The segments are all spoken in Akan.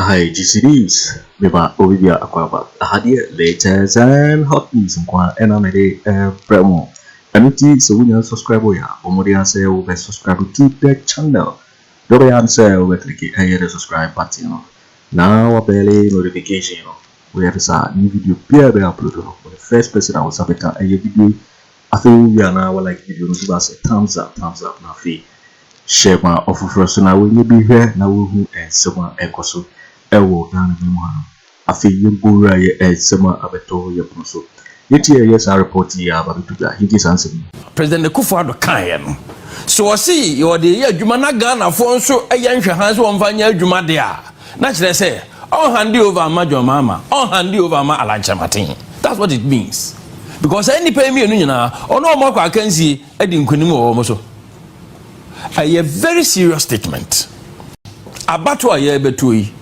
Aha yɛ GCDs, me ba obi bia akɔ aba. Aha deɛ latest and hot news nko ara ɛna mede ɛbrɛ mo. Ɛno ti sɛ wonya subscribe yɛ a, bɔ mmɔden ara sɛ wobɛ subscribe to the channel. Deɛ wobɛyɛ ara ne sɛ wobɛ click ɛyɛ the subscribe button no na wabɛle notification no. Woyɛ no saa, new video biara bɛ upload no, wo ne first person a wo nsa bɛka ɛyɛ video Afei wo wie a na wa like video no so na sɛ thumbs up thumbs up na afei share ma ɔfoforɔ nso na wɔnyɛ bi hwɛ na wɔhu nsɛm a ɛkɔ so ɛwɔ Ghana man mu hanom. Afei yɛn bɔ wura yɛ nsɛm a abɛtɔ yɛ pono so. Yɛn ti ɛyɛ saa report yi aba bɛto dwa yɛn tie saa nsɛm yi. President Akufo Addo kaeɛ no, sɛ wɔse wɔde reyɛ adwuma na Ghanafoɔ nso yɛ nhwɛhan sɛ wɔmfa nyɛ adwuma deɛ a, Na kyerɛ sɛ, ɔnhande Yehovah amma dwammaama, ɔnhande Yehovah amma alankyɛmaten. That's what it means. Because saa nnipa yi mmienu nyinaa, ɔne wɔn akɔ akansie adi nkonim wɔ wɔn so. Ɛyɛ very serious statement. Abatoɔ a yɛrebɛtoɔ yi,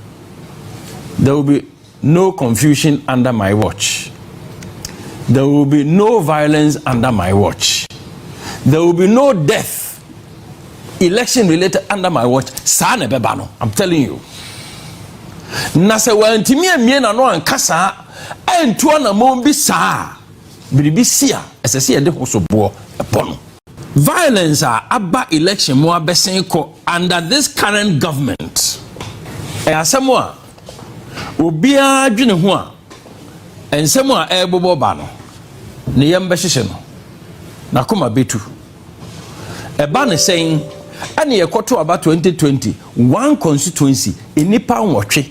there will be No confusion under my watch. There will be no violence under my watch. There will be no death election related under my watch saa na ɛbɛba no i'm telling you na sɛ wantumi amie na no anka saa antu anamɔn bi saa biribi si a ɛsɛ sɛ yɛde ho so boɔ ɛbɔ no violence a aba election mu abɛsen kɔ under this current government ɛyɛ asɛm a Obiara dwene ho a, nsɛm a ɛrebobɔ ba no, ne yam bɛhyehye no. N'akoma betu. Ɛba no sɛn? Ɛne ɛkɔto aba 2020, one constituency, nnipa nwɔtwe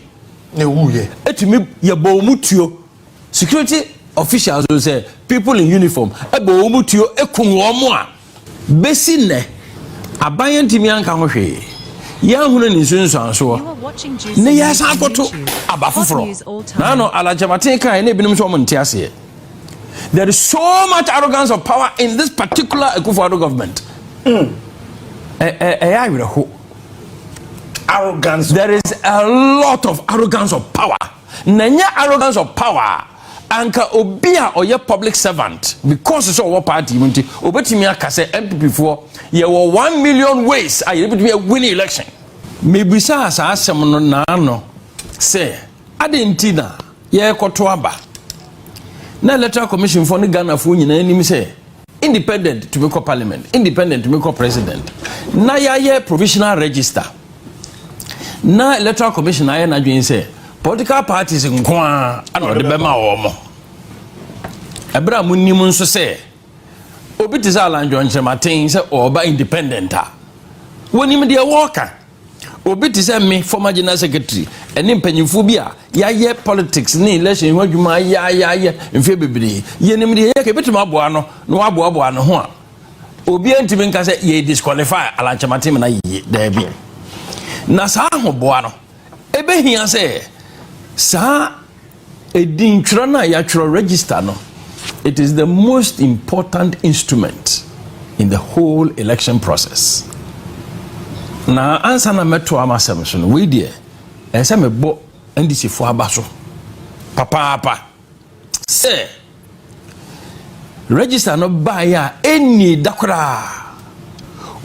na ɛwuiɛ. Ɛtumi yɛbɔɔ mu tuo. Security officials sɛ people in uniform ɛbɔɔ mu tuo ɛkum wɔn a. Bɛsi nnɛ, aban antumi anka ho hwee, yɛanhunu ne nsunsuansoɔ, na yɛasan akɔto aba foforɔ. Na ano Alan Kyerematen kaeɛ na ebinom nso wɔn nte aseɛ. There is so much arrogance of power in this particular Akufo-Addo government. Mm. Ɛyɛ awerɛho. Arrogance. There is a lot of arrogance of power. Na nyɛ arrogance of power. anka obi a ɔyɛ public servant because sɛ ɔwɔ party mu nti obetumi aka sɛ npp foɔ yɛwɔ one million ways a yɛbɛtumi awini election mebisaa saa asɛm no naano sɛ adɛn nti na yɛrekɔto aba na electoral commission foɔ ne ghanafoɔ nyinaa anim sɛ Independent tumi kɔ parliament, independent tumi kɔ president. Na yɛayɛ provisional register. Na electoral commission ayɛ n'adwene sɛ political parties nko ara na ɔde bɛma wɔn. Ɛberɛ a monim nso sɛ obi te sɛ Alan John Kyerematen sɛ ɔreba independent a, wɔnim deɛ wɔreka. Obi te sɛ me, former general secretary, ɛne mpanyinfoɔ bi a yɛayɛ politics ne election ho adwuma ayɛayɛayɛ mfeɛ bebree. Yɛnim deɛ yɛka ebɛtumi aboa no na waboaboa ne ho a obiara ntumi nka sɛ yɛ disqualify alankyɛma tem na yiye daabi. Na saa ahoboa no ɛbɛhia sɛ saa Edin twerɛ no a yɛatwerɛ, register, no, it is the most important instrument in the whole election process. Na ansa na mɛtoa m'asɛm so no, wei deɛ ɛsɛ sɛ mebɔ NDCfoɔ aba so papaapa sɛ Register no baeɛ a ɛnnii da koraa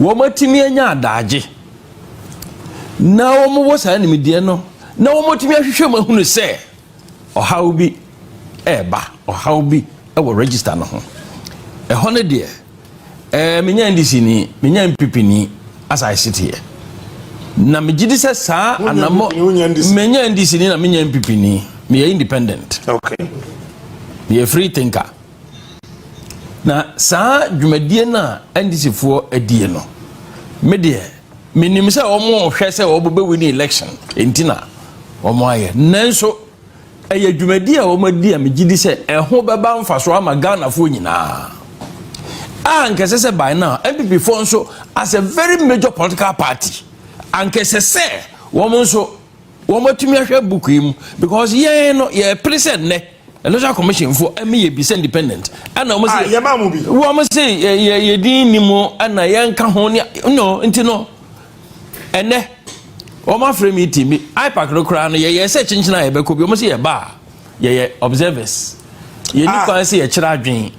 wɔatumi anya adaagye na wɔwɔ saa nimdeɛ no na wɔatumi ahwehwɛ mu ahunu sɛ ɔhaw bi ɛreba, ɔhaw bi wɔ register no ho. Ɛhɔ no deɛ Ɛɛ, menya NDC ni, menya NPP ni, as I sit here. Na megye di sɛ saa anamɔ. Menya NDC ni na menya NPP ni. Meyɛ independent. Okay. Meyɛ free thinker. Na saa dwumadie no a NDC foɔ adie no, me deɛ, menim sɛ wɔn hwɛ sɛ wɔn bɛwi ne election, enti na wɔn ayɛ. Nanso, Ɛyɛ dwumadi a wɔadi a megye di sɛ ɛho bɛba mfaso ama Ghanafoɔ nyinaa. A anka ɛsɛ sɛ by now NPPfoɔ nso as a very major political party anka ɛsɛ sɛ wɔn nso wɔn atumi ahwɛ book yi mu because yɛn no yɛpere sɛ nnɛ electoral commission fo ɛmi yɛ bi sɛ independent ɛna wɔn sɛ yɛ maa mu bi wɔn sɛ yɛ yɛ yɛ din ni mu ɛna yɛn ka ho ne no nti no. Ɛnnɛ, wɔafrɛ meeting bi, IPAC no koraa no, yɛyɛɛ sɛ kyenkyen a yɛbɛkɔ bi. Wɔn sɛ yɛba a, yɛyɛ observers. Yɛnni ah. kwan sɛ yɛkyerɛ adwene.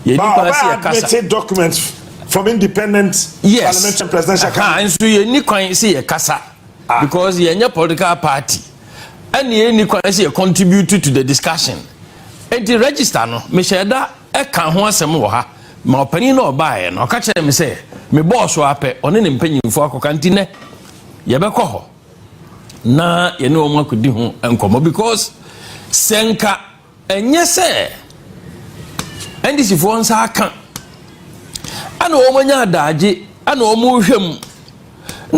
Yɛnni kwan sɛ yɛkasa. Admit document from independent yes. parliamentary presidential candidate. Nso yɛnni kwan sɛ yɛkasa ah. because yɛnyɛ political party. Ɛne yɛnni kwan sɛ yɛ contribute to the discussion. Enti register no, mehyɛ da Ɛkaa ho asɛm wɔ ha ma ɔpanin no a ɔbaeɛ no. Ɔka kyerɛɛ me sɛ me bɔɔ so ara pɛ, ɔne ne mpanyimfoɔ akɔka. Nti nnɛ, yɛbɛkɔ hɔ na yɛne wɔn akɔdi ho nkɔmmɔ because sɛ nka ɛnyɛ sɛ NDCfoɔ nsa aka ɛna wɔn anya adagye ɛna wɔn rehwɛ mu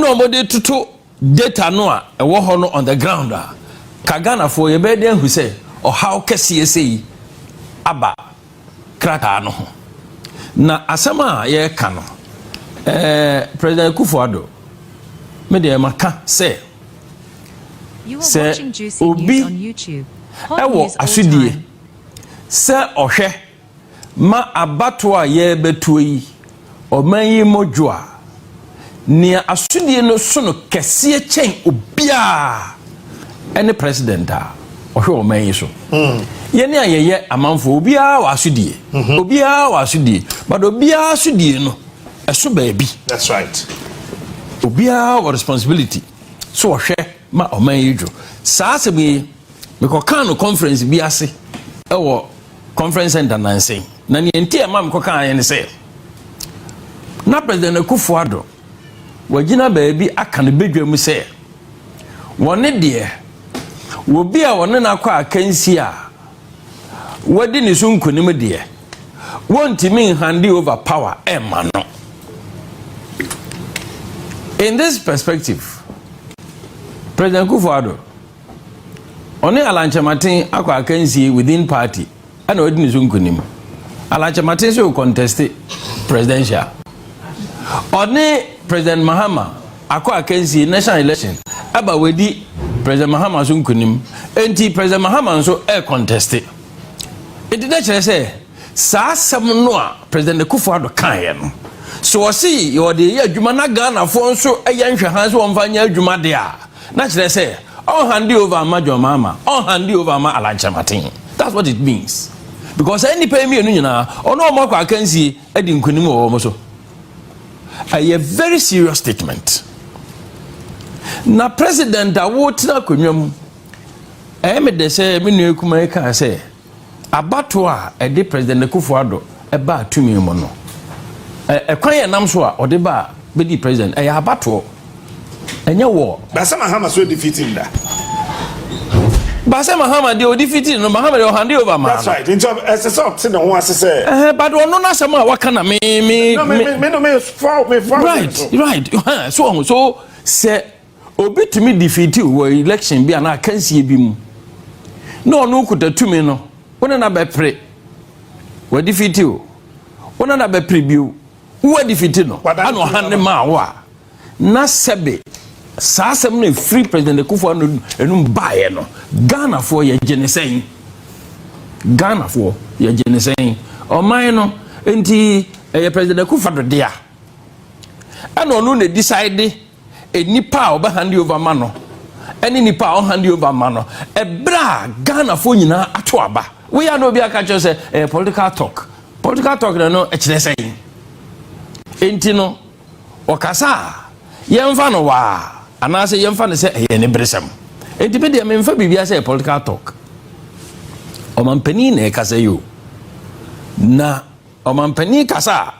na wɔn de toto Data no a ɛwɔ hɔ no on the ground a, ka Ghanafoɔ yɛbɛyɛ dɛn ahu sɛ ɔhaw kɛseɛ sei aba krataa no ho? Na asɛm a yɛreka no, eh, President Akufo Addo, me deɛ maka sɛ, sɛ obi ɛwɔ asodie sɛ ɔhwɛ, Ma abatoɔ a yɛrebɛtoɔ yi ɔman yi mmɔdwo a nea asodie no sono kɛseɛ kyɛn obiara ɛne president a ɔhwɛ ɔman yi so. Mm. Yɛne a yɛyɛ amanfoɔ obiara wɔ asodie. Mm -hmm. Obiara wɔ asodie. But obiara asodie no ɛso baabi. That's right. Obiara wɔ responsibility so ɔhwɛ ma ɔman yi dwo. Saa asɛm yi Mekɔkaa no conference bi ase wɔ conference center nansa yi na nea nti a ɛma mekɔkaa yɛ ne sɛ na president akufo ado wagyina baabi aka no badwa mu sɛ wɔne deɛ obi a wɔne no akɔ akansi a wadi ne so nkonim deɛ wɔntumi nhande over power ɛma no in this perspective president akufo ado Ɔne Alan Kyerematen akɔ akansie within party ɛna wadi ne so nkunim. Alan Kyerematen so conteste presidential. Ɔne President Mahama akɔ akansie national election ɛba wadi President Mahama so nkunim. Enti President Mahama nso ɛɛconteste. Enti na kyerɛ sɛ. Saa asɛm no a President Akufo Addo kaeɛ no, sɛ ɔse ɔde reyɛ adwuma na Ghanafoɔ nso yɛ nhwɛhan sɛ wɔmfa nyɛ adwuma deɛ a, na kyerɛ sɛ ɔnhande over mma John Mahama, ɔnhande over mma Alan Kyerematen. That's what it means. Because saa nnipa yi mmienu nyinaa, ɔne wɔn akɔ akansie adi nkonim wɔ wɔn so. Ɛyɛ very serious statement. Na President a wotena akonnwa mu, ɛyɛ me dɛ sɛ me nua kumaa yi kaa sɛ, Abatoɔ a ɛde President Akuffo Addo baa tumi mu no, ɛkwan a ɛnam so a ɔde baa bɛdii President, ɛyɛ abatoɔ, ɛnyɛ war. Baasa Mahama so ɔdi fitiri da. Baasa Mahama deɛ ɔdi fitiri no, Mahama deɛ ɔhande over maa no. That's right, nti ɛsɛ sɛ ɔte ne ho ase sɛ. Ɛhɛn, but ɔno n'asɛm a waka na me me. No, me me me no me fɔ me fɔ. Right, right, so ɔho so sɛ. Obi tumi defeatiw wɔ election bi anaa akansie bi mu na ɔno kuta tumi no, wo ne no abɛpere. Wadefeati o, wo ne no abɛpere bio. Woadefeati no, ana ɔhan ne maa wo a, na sɛbe saa asɛm no ɛfiri President Akufo ano anum baeɛ no, Ghanafoɔ yɛgye ne sɛn? Ghanafoɔ yɛgye ne sɛn? Ɔman no, nti ɛyɛ President Akufo Addo dea. Ɛna ɔno na decide Nnipa a wɔbɛhande over ma no ne nnipa a wɔhande over ma no, ɛberɛ a Ghanafoɔ nyinaa ato aba. Wei a na obi aka kyerɛ sɛ ɛyɛ political talk. Political talk na no ɛkyerɛ sɛn? Enti no, wɔkasa a, yɛmfa no waa anaasɛ yɛmfa no sɛ ɛyɛ aniberesɛm. Enti me deɛ memfa biribiara sɛ ɛyɛ political talk. Ɔmampanin na ɛkasa yi o. Na Ɔmampanin kasa a.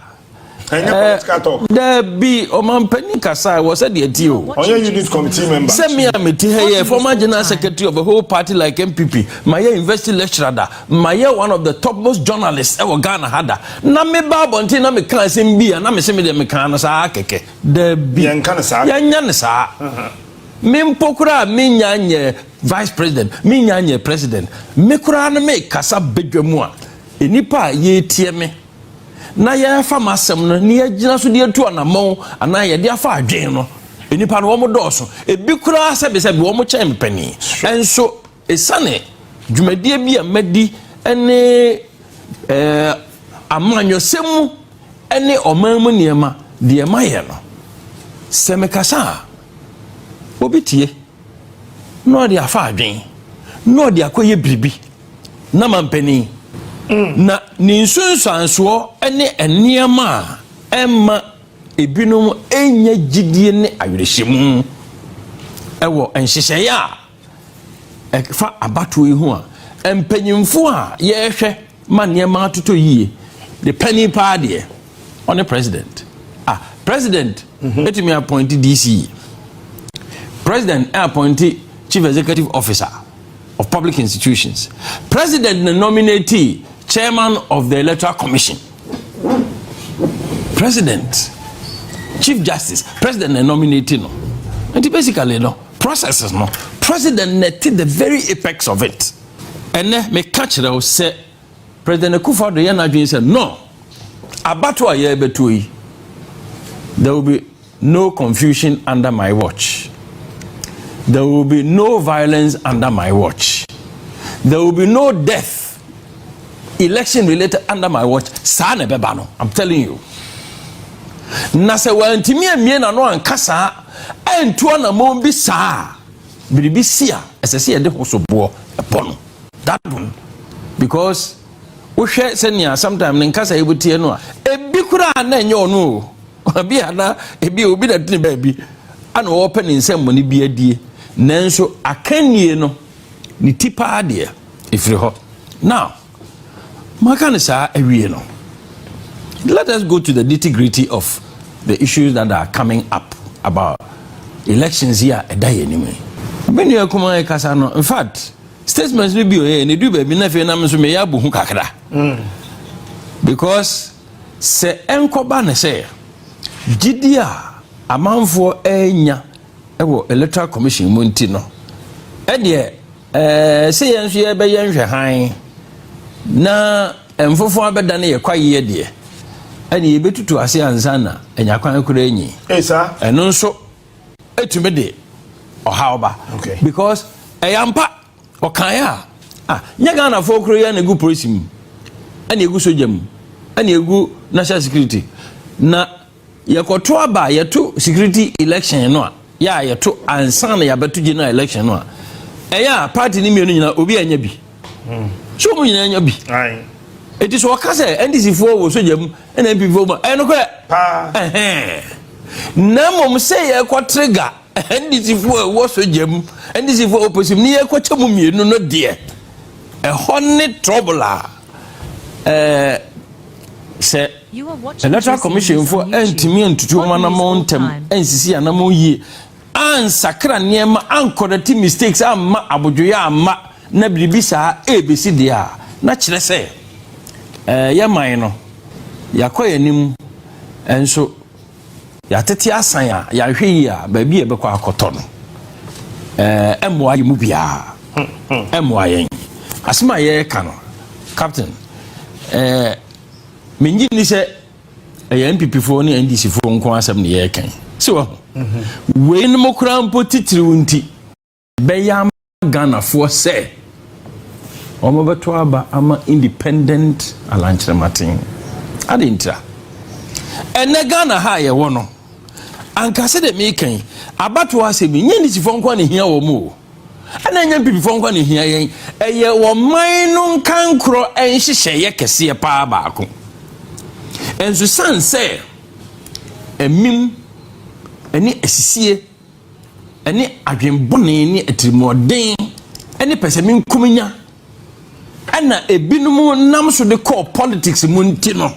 Ɛnyɛ eh, political talk. Dabi ɔmampanin kasa wɔ sɛ deɛ ti o. Ɔnyɛ unit committee member. Sɛ mi a mi ti ha yɛ former general secretary of a whole party like NPP ma yɛ university lecturer da ma yɛ one of the topmost journalists ɛwɔ Ghana ha da na mi ba abɔnten na mi kan asɛm bi a na mi se mi deɛ mi kan no saa kɛkɛ. Dabi yɛn nka ne saa. Yɛn nya ne saa. Uh-huh. Me mpo koraa me nya nyɛ vice president me nya nyɛ president me koraa no me kasa badwa mu a. Nnipa a yɛretie me na yɛrefa m'asɛm no na yɛagyina so de atu anammɔn anaa yɛde afa adwene no, nnipa no wɔdɔɔso. Ebi koraa sɛbesɛbe wɔkyɛn me panin. Nso esiane dwumadie bi a madi ne eh, amanyɔsɛm mu ne ɔman mu nneɛma deɛ mayɛ no, sɛ mekasa a, obi tie na ɔde afa adwene na ɔde akɔyɛ biribi. na mampanin. Na ne nsunsuansoɔ ne nneɛma a ɛmma ebinom nnya gyidie ne awerɛhyɛmu wɔ nhyehyɛeɛ a ɛfa abatoɔ yi ho a mpanyimfoɔ a yɛrehwɛ ma nneɛma atotɔ yie de panin paa deɛ ɔne president a president mhm. ɛtumi appointe DC president appointe chief executive officer of Public Institutions, President na nominatee Chairman of the Electoral Commission. President, Chief Justice, President na nominate no. Nti basically no, processes no, President na te the very apex of it. Ɛnɛ meka kyerɛ wo sɛ President Akufo-Addo yɛ n'adwene sɛ no, abato a yɛrebɛtuo yi, there will be No confusion under my watch. There will be no violence under my watch. There will be no death election related under my watch saa na ɛbɛba no i'm telling you na sɛ wantumi amie n'ano anka saa antu anamɔn bi saa biribi si a ɛsɛ sɛ yɛde ho so boɔ ɛbɔ no dadon because wohwɛ sɛnea sometimes ne nkasa yi boteɛ no a ebi koraa na ɛnyɛ ɔno o Ebi a na ebi a obi na ɛte ne baabi a na ɔrepɛ ne nsɛmmɔne bi adie, nanso akannie no ne ti paa deɛ ɛfiri hɔ. Now, maka no saa awie no, let us go to the nitty gritty of the issues that are coming up about elections yi a ɛda yɛn anim yi. Me nua kumaa yi kasa no, in fact, statements no bi ɔyɛ na ɛdu baabi na afei nam nso meyɛ abohu kakra because Sɛ ɛnkɔba no sɛ, gyidi a amanfoɔ renya wɔ Electoral Commission mu nti no, ɛdeɛ ɛɛ sɛ yɛn nso yɛbɛyɛ nhwɛ hann na mfofoɔ abɛdane yɛ kwayeɛ deɛ, ɛne yɛbɛtutu ase ansa na anya kwan koraa nyi. Ɛno nso ɛtumi de ɔhaw ba because ɛyɛ ampa. Ɔkaeɛ a, ah, nyɛ Ghanafoɔ koro yɛ na ɛgu polisi mu, ɛna ɛgu sogya mu, ɛna ɛgu national security. Na yɛkɔto aba yɛto security election no a, yɛ a yɛto ansa na yɛabɛto general election no a, ɛyɛ a party no mmienu nyinaa obi anya bi. Hmm. So wɔn nyinaa anya bi. Eti so ɔka sɛ NDC foɔ wɔ sogya mu ɛna NPP foɔ mu ɛyɛ nokorɛ. Paa. Ɛhɛn. Na mmom sɛ yɛkɔ trigger. NDCfoɔ a ɛwɔ sogya mu, NDCfoɔ a ɛwɔ polisi mu, ne yɛkɔkyɛ mu mmienu no deɛ, ɛhɔ ne trouble a ɛɛ sɛ electoral commissionfoɔ antumi antutu wɔn anamɔ ntɛm, ansisi anamɔ yie, ansakra nneɛma, ankɔrɛte mistakes, amma abodwoyɛ amma na biribi saa ɛrebɛsi deɛ a, na kyerɛ sɛ ɛɛ yɛ man no, yɛakɔ yɛn anim nso. Yɛatete asan a, yɛanhwɛ yie a, baabi a yɛbɛkɔ akɔtɔ no, ɛmmoa yɛn mu biara. Ɛmmoa yɛn. Asɛm a yɛreka no, Captain, mennye nni sɛ ɛyɛ NPPfoɔ ne NDCfoɔ nko asɛm na yɛreka yi. Sɛ wahu. Weinom koraa mpo titiriw nti. bɛyɛ ama Ghanafoɔ sɛ wɔbɛto aba ama independent alankyerɛmaten. Adɛn ntira? Ɛnɛ Ghana ha a yɛwɔ no, anka sɛdeɛ meka yi, abatoɔ asɛm yi, nyɛ nisifoɔ nko na ɛhia wɔn o. Ɛna ɛnyɛ mpipifoɔ nko na ɛhia yɛn. Ɛyɛ ɔman no nkankorɔ nhyehyɛeɛ kɛseɛ paa baako. Nso sane sɛ ɛmim ɛne asisie ɛne adwene bɔne ne atirimuɔden ne pɛsɛmenkominya na ebinom nam so de kɔɔ politics mu nti no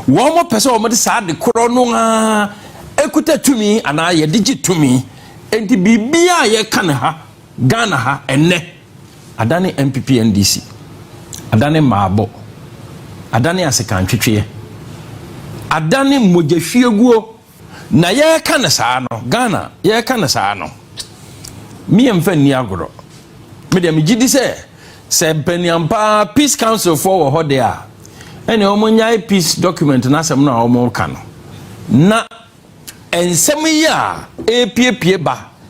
wɔn pɛ sɛ wɔn de saa de korɔ no a ekuta tumi anaa yɛde gye tumi nti biribiara a yɛka no ha Ghana ha ɛnɛ adane NPP NDC adane mmaabɔ adane asekantwetweɛ adane mogyahwieguo Na yɛreka no saa no, Ghana, yɛreka no saa no, me yɛmfa nni agorɔ. Me deɛ megye di sɛ sɛ mpaniam paa peace council foɔ wɔ hɔ deɛ a ɛne wɔn nyae peace document no asɛm no a wɔn ka no na nsɛm yi a ɛrepiepie ba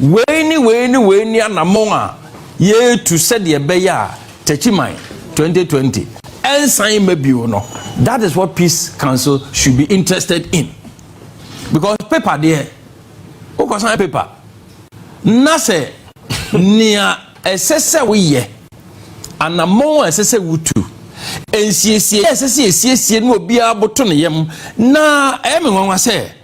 Wei ne wei ne wei ne anammɔn a yɛretu sɛdeɛ ɛbɛyɛ a Takyiman 2020 ɛnsan mma bio no, that is what Peace Council should be interested in. Because paper deɛ, wokɔsan paper na sɛ nea ɛsɛ sɛ woyɛ, anammɔn a ɛsɛ sɛ wotu, nsiesie a ɛsɛ sɛ yɛsiesie no obiara boto ne yam na ɛyɛ me nwanwa sɛ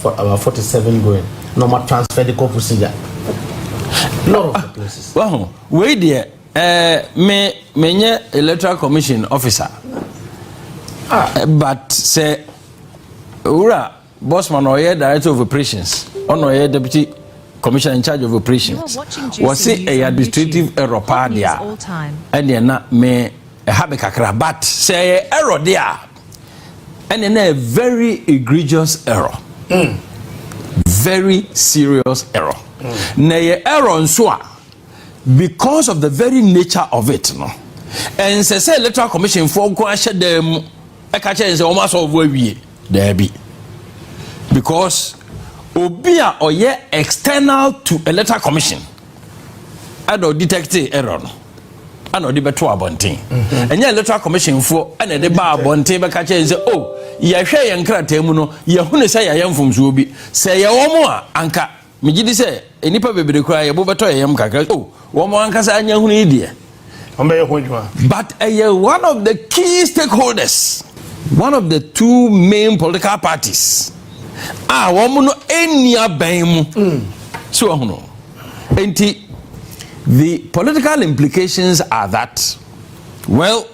for our forty seven going na ɔma transfer de kɔ pusiga lot of the places. wahu wei deɛ ɛɛ eh, me me nye electoral commission officer ah. Eh, but sɛ owura bosman ɔyɛ director of operations ɔna ɔyɛ deputy commissioner in charge of operations wɔsi ɛyɛ administrative error paa deɛ ɛdeɛ na me ɛha eh, mi kakra but sɛ ɛyɛ error deɛ a. Ɛne na yɛ very egregious error. Mm. Very serious error. Mm. Na yɛ error nso a because of the very nature of it no. Ɛnsɛ sɛ electoral commission foɔ nko ahyɛ dan mu ɛka kyɛ nsɛ wɔn asɔfo awie daabi because obi a ɔyɛ external to electoral commission. ɛna ɔdetɛkte error no ɛna ɔde bɛto abɔnten mhm. ɛnyɛ electoral commission foɔ ɛna ɛde ba abɔnten bɛka kyɛn sɛ o oh, yɛhwɛ yɛn krataa mu no yɛhunu sɛ yɛayɛ mfomsoɔ bi sɛ yɛ wɔn a anka megye di sɛ nnipa bebree koraa yɛbo bɛtɔ yɛn yam kakra o oh, wɔn ankasa anya hunu yi deɛ wɔn bɛyɛ ho adwuma. but ɛyɛ one of the key stakeholders one of the two main political parties a wɔn no ɛnni abɛn mu mm. so wɔn no nti the political implications are that well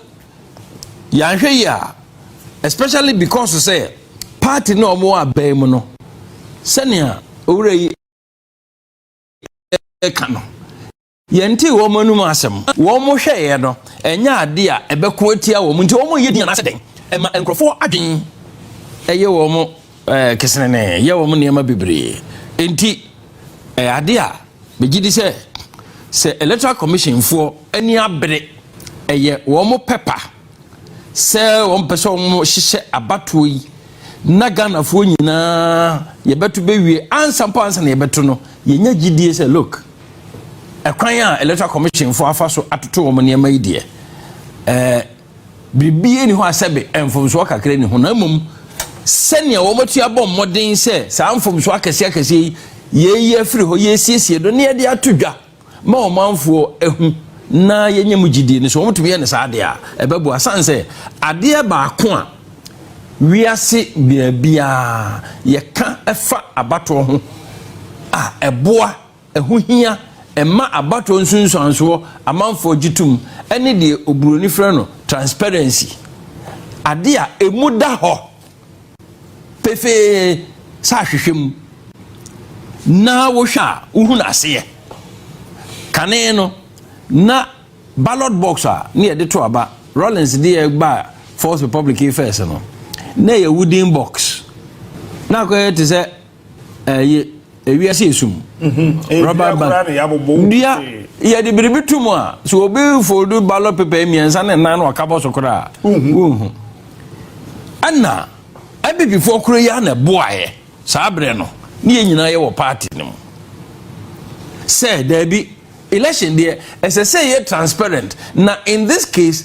yɛahwɛ yi a especially because sɛ party na wɔn abɛn mu no sɛnea owurɛ yi ɛka no. Yɛntee wɔn anom asɛm. Wɔn hwɛeɛ no, ɛnyɛ adeɛ a ɛbɛko atia wɔn nti wɔnyɛ din anaasɛ dɛn? Ɛma nkurɔfoɔ adwene yɛ wɔn kesenenee, yɛ wɔn nneɛma bebree. Enti, ɛyɛ adeɛ a megye di sɛ, sɛ Electoral Commissionfoɔ ani abere, ɛyɛ wɔn pɛ pa. sɛ wɔmpɛ sɛ wɔhyehyɛ abatoɔ yi na ghanafoɔ nyinaa yɛbɛto bɛwie ansa mpo ansa na yɛbɛto no yɛnya gyidie sɛ look ɛkwan a electoral commission foɔ afa so atoto wɔn nneɛma yi deɛ ɛɛ biribi ni hɔ asɛbe mfomsoɔ kakra ni ho na mmom sɛnea wɔn atu abɔ mmɔden sɛ saa mfomsoɔ akɛseɛ akɛseɛ yi yɛyi afiri hɔ yɛsiesie do ne yɛde ato dwa ma ɔmanfoɔ ahu na yɛnyɛ mu gyidie no so wɔtumi yɛ no saa adeɛ a ɛbɛboa sane sɛ adeɛ baako a wiase baabiaa yɛka ɛfa abatoɔ ho a ɛboa ɛho hia ɛma abatoɔ nsunsuansoɔ amanfoɔ gye tom ɛne deɛ oburoni frɛ no transparency adeɛ a ɛmu da hɔ pefee sɛ ahwehwɛ mu na wohwɛ a wohu n'aseyɛ. Kane no, na ballot box a ne yɛde to aba, Rawlings de ɛba Fourth Republic yi first no, na ɛyɛ wooden box. Na akɔyɛ te sɛ Ɛyɛ ewiase esum. Mhm. Rubber band. Dua yɛde biribi to mu a sɛ obi foldu ballot paper mmiɛnsa ne nan na ɔkabɔ so koraa a wonhu. Ɛna abibifoɔ koro yi na ɛboaeɛ saa berɛ no ne yɛn nyinaa yɛwɔ party no mu sɛ daabi election deɛ ɛsɛ sɛ yɛ transparent na in this case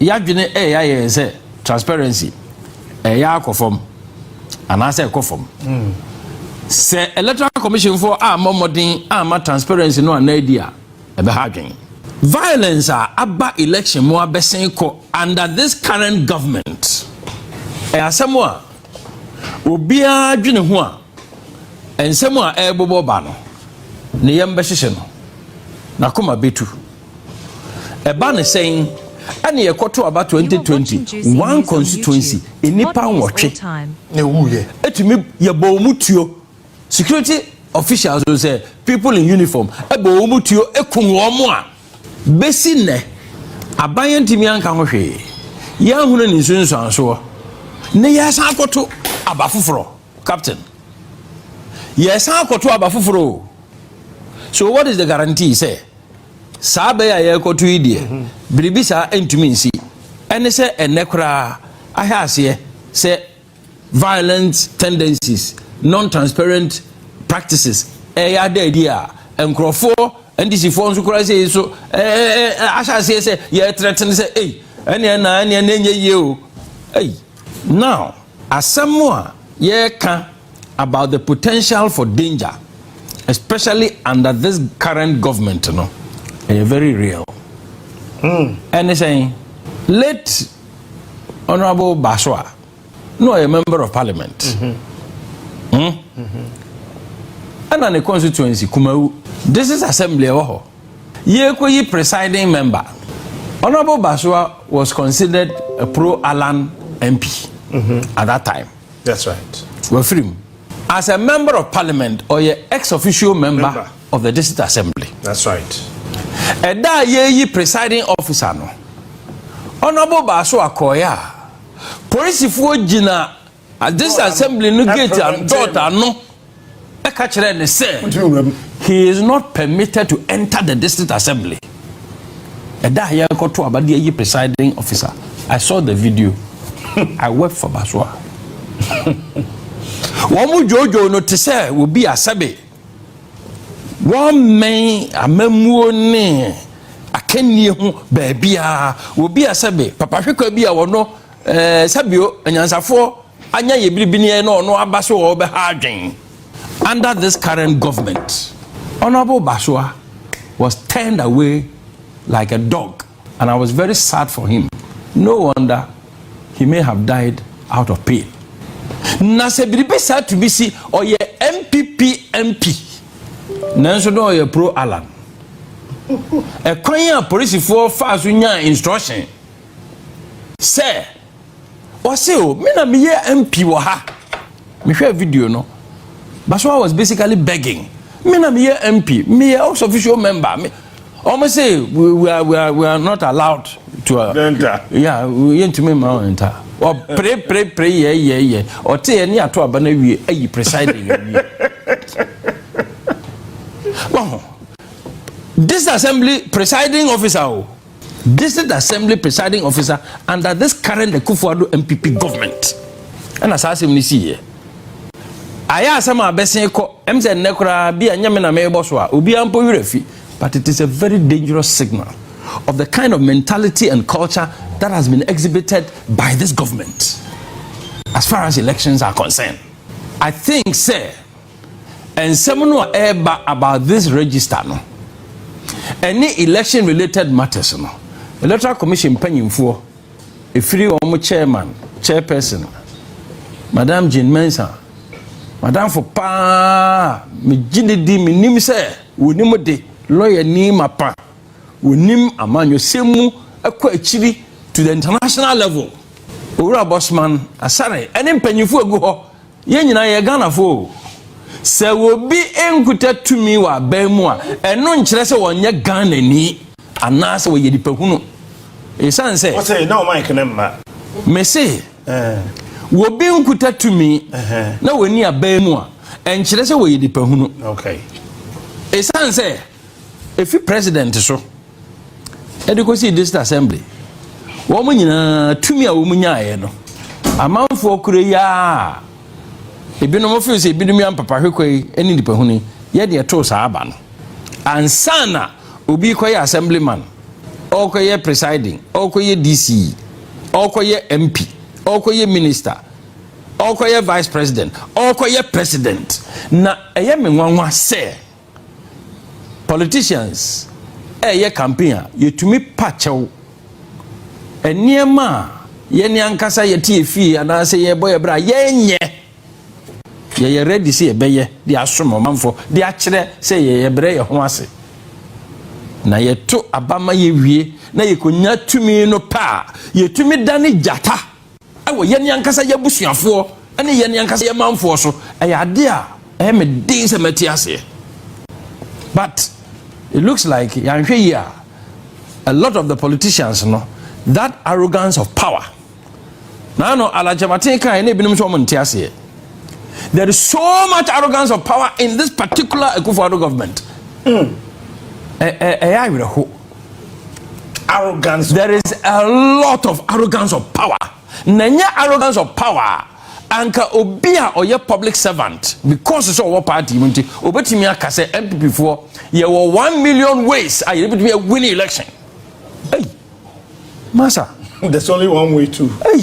Y'adwene reyɛ ayɛ yɛn sɛ transparency reyɛ akɔ fam anaasɛ ɛkɔ fam. Sɛ Electoral Commission foɔ ammɔ mmɔden amma transparency no anna adi a, ɛbɛha adwene. Violence a aba election mu abɛsen kɔ under this current government yɛ asɛm a obiara dwene ho a, nsɛm a ɛrebobɔ ba no, ne yam bɛhyehye no, n'akoma bɛtu. Ɛba no sɛn? Ɛna yɛkɔto aba twenty twenty one constituency nnipa nwɔtwe na ewuiɛ. Etumi yɛbɔ wɔn tuo security officials o sɛ people in uniform ɛbɔ wɔn tuo ekum wɔn a besi nnɛ aban yɛn ntumi anka ho hwee yɛn ahunu ne nsunsuansoɔ ne yɛsan akɔto aba foforɔ captain yɛsan akɔto aba foforɔ o so what is the guarantee sɛ. Saa bɛ yi a yɛrekɔto yi deɛ, biribi saa ntumi nsi. Ɛne sɛ ɛnnɛ koraa ahwɛ aseɛ sɛ violent tendencies, non-transparent practices ɛyɛ ada adi a nkurɔfoɔ NDCfoɔ nso koraa sɛ so ahyɛ aseɛ sɛ yɛretrɛtene sɛ ei ɛneɛ na ɛneɛ na ɛnyɛ yie o ei now asɛm a yɛreka about the potential for danger especially under this current government no ɛyɛ very real ɛne hmm. sɛn late honourable baso a na ɔyɛ member of parliament ɛna mm-hmm. hmm? mm-hmm. ne constituency kumawu this is assembly ɛwɔ hɔ yɛkɔyi presiding member honourable basoa was considered a pro alan mp mm-hmm. at that time That's right. Wafiri mu. As a member of parliament, ɔyɛ ex official member, member of the district assembly. That's right. Ɛda a yɛyi presiding officer no, Honourable Baaso akɔɔyɛ a, polisifoɔ gyina district assembly no gate dɔɔta ano. bɛka kyerɛɛ no sɛ, He is not permitted to enter the district assembly. Ɛda a yɛrekɔto aba de ayi presiding officer, I saw the video. I wept for Basoa. Wɔn dwoodwoo no te sɛ obi asɛbe. Wɔmmɛn amammuo ne akannie ho baabiara. Obi asɛbe, papahwekwa bi a wɔno Ɛɛ sɛbio anyansafoɔ anya yɛ biribiniɛ na ɔno aba so wɔ ɔbɛha adwen. Under this current government, Honourable Basua was turned away like a dog and I was very sad for him. No wonder he may have died out of pain. Na sɛ biribi saa tumi si, ɔyɛ MPP MP. Nanso na ɔyɛ pro Allan. Ɛkwan a polisifoɔ faa so nyaa instruction Sɛ, ɔse o, me na meyɛ MP wɔ ha. Mehwɛɛ video no. Basoa was basically begging. Me na meyɛ MP, meyɛ House official member. Me, wɔn se we, we, are, we, are, we are not allowed to. Uh, Denta. Yeah, yɛntumi mma wɔn nta. Ɔpere pere pere yɛ yɛ yɛ. Ɔte yɛ ne ato aba na wie ayi presiding yɛ wie. Wɔn ho. Disassembly presiding officer o. Oh. District Assembly Presiding Officer under this current Akufo-Addo NPP government. Ɛna saa asɛm no siiɛ. Ayɛ asɛm a abɛsen kɔ, ɛm sɛ nnɛ koraa bi a nyɛ me na merebɔ so a, obiara mpo werɛ fi. But it is a very dangerous signal of the kind of mentality and culture that has been exhibited by this government as far as elections are concerned. I think sɛ Nsɛm no a ɛreba about this register no, ɛne election related matters no, Electoral Commission mpanyimfoɔ, ɛfiri wɔn chairman, chairperson, Madam Jane Mensah, madamfo paa a megye no di menim sɛ wɔnim de, lɔyani mapa, wɔnim amanyɔsɛm mu kɔ akyiri to the international level, Owura Bosman Asare ne mpanyimfoɔ a ɛgu hɔ Yɛn nyinaa yɛyɛ Ghanafoɔ o. Sɛ obi nkuta tumi wɔ aban mu a, ɛno nkyerɛ sɛ ɔnyɛ Ghanani anaasɛ ɔyɛ nipa hunu. Esiane sɛ. Ɔsɛ na ɔman kene mma. Mese, obi nkuta tumi na ɔnni aban mu a, ɛnkyerɛ sɛ ɔyɛ nipa hunu. Esiane sɛ efi president so. ɛde kɔsii district assembly wɔn nyinaa tumi a wɔn nyaeɛ no amanfoɔ kura yi a ebinom feel sɛ ebinom yɛ mpapa hwekɔ yi ne nipahuni yɛ deɛ too saa aba no ansa na obi kɔyɛ assemblyman ɔkɔyɛ presiding ɔkɔyɛ dc ɔkɔyɛ mp ɔkɔyɛ minister ɔkɔyɛ vice president ɔkɔyɛ president na ɛyɛ me nwanwa sɛ. Politicians ɛyɛ campaign a yɛtumi pa kyɛw. Nneɛma a yɛne ankasa yɛte yɛ fie anaasɛ yɛbɔ yɛ bra yɛnyɛ. Yɛyɛ ready sɛ yɛbɛyɛ de asom ɔmanfoɔ de akyerɛ sɛ yɛyɛ brɛ yɛ ho ase. Na yɛto aba ma yɛwie na yɛkɔnya tumi no pɛ a yɛtumi dane gyata. wɔ yɛn ankasa yɛn abusuafoɔ ne yɛn ankasa yɛn manfoɔ so ɛyɛ adeɛ a ɛyɛ me den sɛ mɛte aseɛ but it looks like yɛanhwɛ yie a a lot of the politicians no that arrogance of power na ano alakyɛmaten kan na ebinom nso wɔn nte aseɛ there is so much arrogance of power in this particular Akufo-Addo government ɛyɛ awerɛho. arrogance. There is a lot of arrogance of power. Na nyɛ arrogance of power anka obi a ɔyɛ public servant because sɛ ɔwɔ party mu nti obetumi aka sɛ npp foɔ yɛwɔ one million ways a yɛbɛtumi awin election. Hey, masa. There's only one way to. Hey.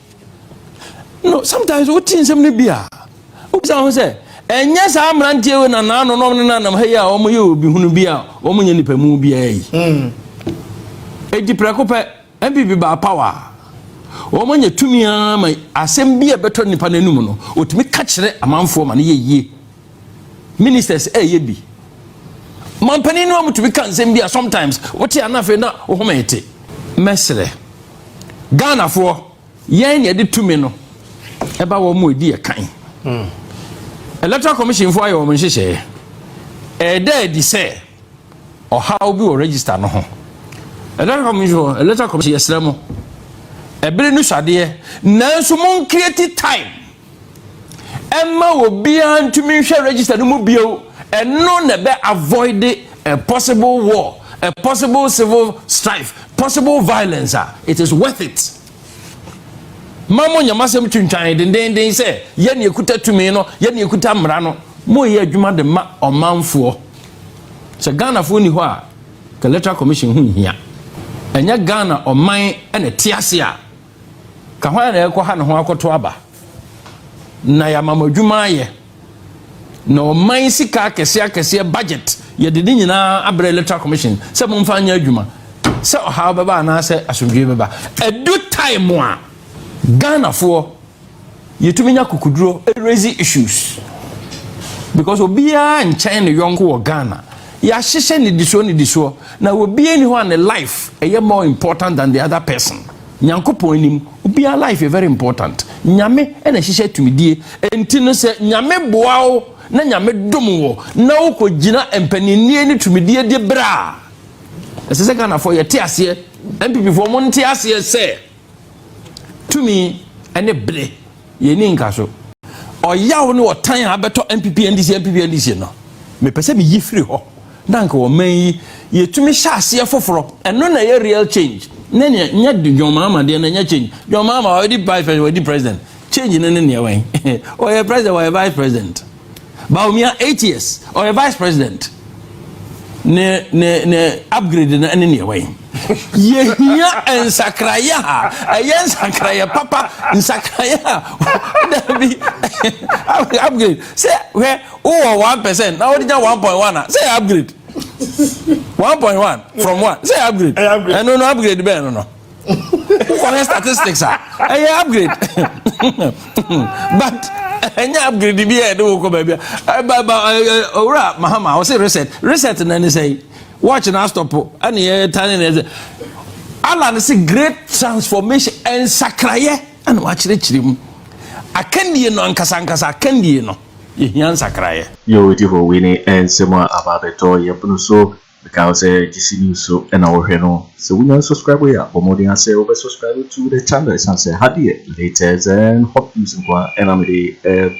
no sometimes wote nsɛm no bi a wobisa ho sɛ ɛnyɛ saa mmeranteɛ wei na naano nom ne nanam ha yi a wɔn yɛ obi hunu bi a wɔn nyɛ nipa mu biara yi edi prɛko pɛ npp baa power wɔn nyɛ tumi ara ma asɛm bi a ɛbɛtɔ nipa n'anum no otumi ka kyerɛ amanfoɔ ma ne yɛ yie. ministers ɛyɛ bi mampanin no a mutumi ka nsɛm bi a sometimes wote a na afei na wo home te mɛsrɛ ghanafoɔ yɛn na ɛde tumi no ɛba wɔn mu ɛdi yɛ kan hmm. electoral commission foɔ ayɛ wɔn nhyehyɛeɛ ɛda adi sɛ ɔhaw bi wɔ register no ho electoral commission electoral commission yɛsrɛ mo ɛbere no swadeɛ nanso mo nkireti time Ɛmma obiara ntumi nhwɛ register no mu bio, ɛno na ɛbɛ avoid a possible war, a possible civil strife, possible violence a, it is worth it. Ma mo nyɛ m'asɛm twintwan dendenden sɛ yɛn na yɛkuta tumi no, yɛn na yɛkuta mmara no, moyɛ adwuma de ma ɔmanfoɔ. Sɛ Ghanafoɔ ni hɔ a, ka Electoral Commission ho nhia. Ɛnyɛ Ghana ɔman na ɛte ase a Ka hwan na ɛrekɔha ne ho akɔto aba, na yɛama mo adwuma ayɛ, na ɔman sika akɛseɛ akɛseɛ budget yɛde ne nyinaa abrɛ electoral commission sɛ momfa nyɛ adwuma sɛ ɔhaw bɛba anaasɛ asomdwoe bɛba ɛdu time a ghanafoɔ Yɛtumi nya akokuduro raise issues because obiara nkyɛn ne yɔnko wɔ Ghana. Yɛahyehyɛ nnidisoɔ nnidisoɔ na obiara ni hɔ a ne life ɛyɛ more important than the other person. Nyankopɔn anim, obiara life yɛ very important. Nyame na ɛhyehyɛ tumidie. Enti no sɛ Nyame boa wo na Nyame dom wo na wokɔgyina mpaninnie ne tumidie diberɛ a, ɛsɛ sɛ Ghanafoɔ yɛte aseɛ, NPPfoɔ monte aseɛ sɛ, Tumi ne bere yɛ nni nkaso. Ɔyaw ne ɔtan a abɛtɔ NPP NDC NPP NDC no, mepɛ sɛ miyi firi hɔ na anka ɔman yi yɛtumi hyɛ aseɛ foforɔ. Ɛno na ɛyɛ real change ne nea nyɛ John Mahama deɛ no ɛnyɛ change. John Mahama wadi vice president, wadi president. Change no ne nea wɛn? Ɔyɛ president, ɔyɛ vice president. Bawumia eight years ɔyɛ vice president ne ne ne upgrade no ɛne neɛ wɛn yɛhia nsakraeɛ ha ɛyɛ nsakraeɛ papa nsakraeɛ ha dabi upgrade sɛ hwɛ wowɔ one percent na wode nya one point one a sɛ upgrade one point one from one sɛ upgrade ɛno no upgrade bɛn no no wokɔhwɛ statistics a ɛyɛ upgrade but ɛnyɛ upgrade bi a ɛde wo kɔ baabi a owura mahama ɔse reset reset na ne sɛ watch na astɔpo ɛne yɛ tane ne ɛsɛ alan se great transformation nsakrayɛ ɛna wakyerɛkyerɛ mu akandie no ankasa ankasa akandie no yɛhia nsakrayɛ yɛwɔ di hɔ wei ne nsɛm a aba abɛtɔ yɛpono so Mekae wo sɛ gyesi news so na wo hwɛ no sɛ wo nya n subscribe yɛ a bɔ mmɔden ara sɛ wo bɛ subscribe to the channel ɛsiane sɛ ha deɛ latest and hot news nko ara na mede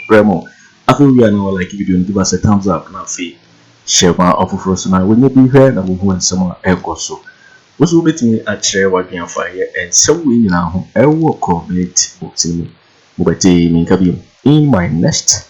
brɛ mo afei wo wie a na wa like video no give us a thumbs up na afei hyɛ ma ɔfoforɔ so na wɔnyɛ bi hwɛ na wɔhu nsɛm a ɛkɔ so wo so wobɛtumi akyerɛ wadwene afa yɛ nsɛm wei nyinaa ho ɛwɔ comment box no mu mobɛte menka bio in my next